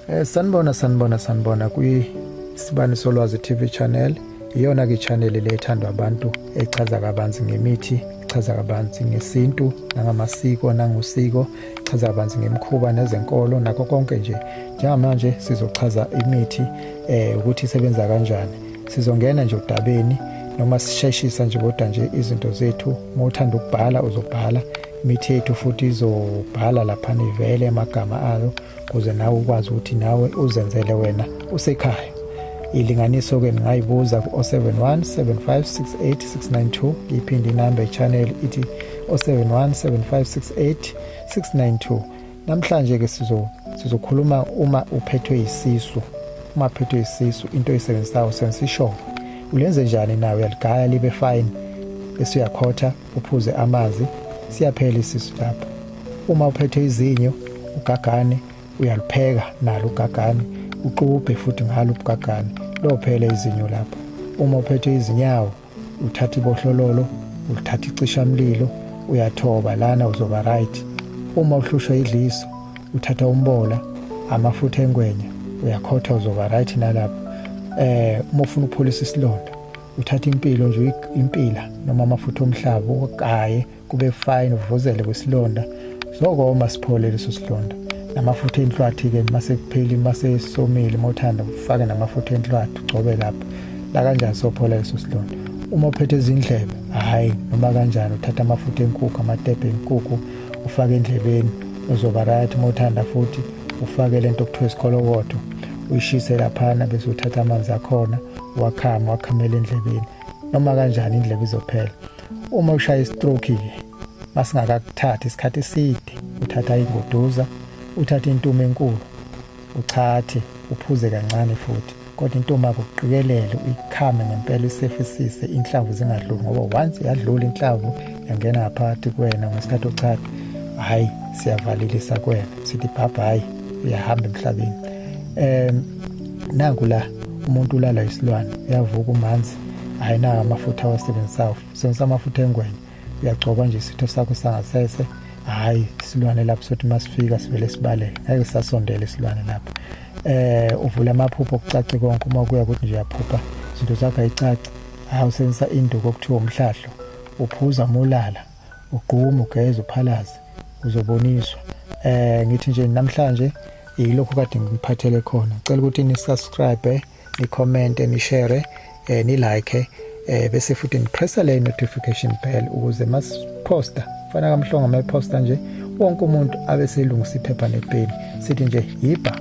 Eh sanibona sanibona sanibona kwi Sibani Solwazi TV channel iyona ke channel le ethandwa abantu echaza kabanzi ngemithi ichaza kabanzi ngesintu nangamasiko nangusiko ichaza kabanzi ngemikhuba nezenkolo nakho konke nje njengamanje sizochaza imithi eh ukuthi isebenza kanjani sizongena nje odabeni noma sisheshisa nje kodwa nje izinto zethu uma uthanda ukubhala uzobhala imithetho futhi izobhala laphana ivele amagama ayo ukuze nawe ukwazi ukuthi nawe uzenzele wena usekhaya ilinganiso ke ningayibuza ku-071 7568692 iphinde inamba echannel ithi 071 7568692 namhlanje ke sizo sizokhuluma uma uphethwe isisu uma phethwe isisu into eyisebenzisayo usebenzisa ishoba ulenze njani nawe uyaligaya libe fine bese uyakhotha uphuze amazi siyaphela isisu lapho uma uphethe izinyo ugagane uyalipheka nalo ugagane uxubhe futhi ngalo ubugagane lophele izinyo lapho uma uphethe izinyawo uthatha ibohlololo uthatha icishamlilo uyathoba lana uzoba right uma uhlushwa idliso uthatha umbola amafutha engwenya uyakhotha uzoba right nalapho eh uma ufuna ukuphulisa isilonda uthatha impilo nje impila noma amafutha omhlaba ugaye kube fine uvuzele kwesilonda sokoma siphole leso silonda namafutha enhlwathi-ke mase kupheli mase somile uma uthanda ufake namafutha enhlwathi ugcobe lapho la kanjani sophola leso silonda uma uphethe izindlebe hhayi noma kanjani uthatha amafutha enkukhu amatebhe enkukhu ufake endlebeni uzoba right uma uthanda futhi ufake le nto okuthiwa isikolokodo uyishise laphana bese uthatha amanzi akhona wakhama wakhamela endlebeni noma kanjani indlebe izophela uma ushaya istroke ke masingakakuthathi isikhathi eside uthatha ingoduza uthatha intumo enkulu uchathe uphuze kancane futhi kodwa intombi akuqikelele uyikhame ngempela isefisise inhlamvu zingadluli ngoba once yadlula inhlamvu yangena ngaphakathi kuwena ngesikhathi uchatha hhayi siyavalelisa kuwena sithi bhabha hhayi uyahamba emhlabeni um nanku la umuntu ulala isilwane uyavuka umanzi hhayi nawo amafutha awasebenzisayo sebenzisa amafutha engwenya uyagcoba nje isitho sakho sangasese hhayi isilwane lapho sothi uma sifika sivele sibalele ngeke sisasondele isilwane lapho um uvule amaphupho kucace konke uma kuya ukuthi nje uyaphupha izinto zakho ayicaci hhayi usebenzisa induku okuthiwa umhlahlo uphuza uma ulala ugqume ugeze uphalaze uzoboniswa eh ngithi nje namhlanje yilokho kade ngiphathele khona cela ukuthi ni subscribe ni comment ni share eh ni like eh bese futhi ni press le notification bell ukuze mas poster fana kamhlonga ma poster nje wonke umuntu abe selungisa iphepha nepeni sithi nje yiba